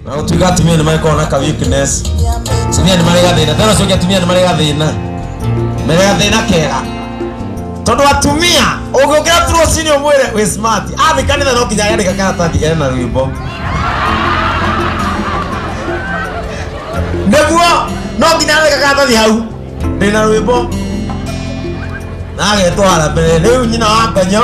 na gũtuĩka atumia nĩ magĩkorwo na ka weakness atumia nĩ marĩ gathĩna tena ũcio ũngĩ atumia nĩ marĩ gathĩna marĩ gathĩna kega tondũ atumia ũngĩũkĩra tu rũcinĩ ũmwĩre wĩ smart athiĩ kanitha no nginya yandĩka karatathi ena rwĩmbo nĩguo no nginya yandĩka karatathi hau ndĩna rwĩmbo na agetwara mbere rĩu nyina wa ngonyo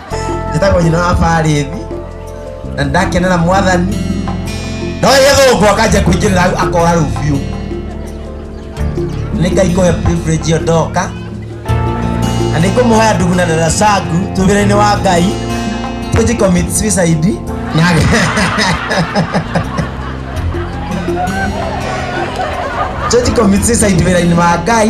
njĩtagwo nyina wa barĩthi na ndakenera mwathani no gĩthũngũ akanja kũingĩrĩra hau akora rĩu biũ nĩ ngai kũhe privilege ĩyo ndoka na nĩ ngũmũhoya ndugu na dada sangu twĩ wĩra-inĩ wa ngai tũnji commit suicide na tũnji commit suicide wĩra-inĩ wa ngai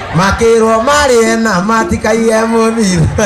makĩrwo marĩe na matikaiye mũthitho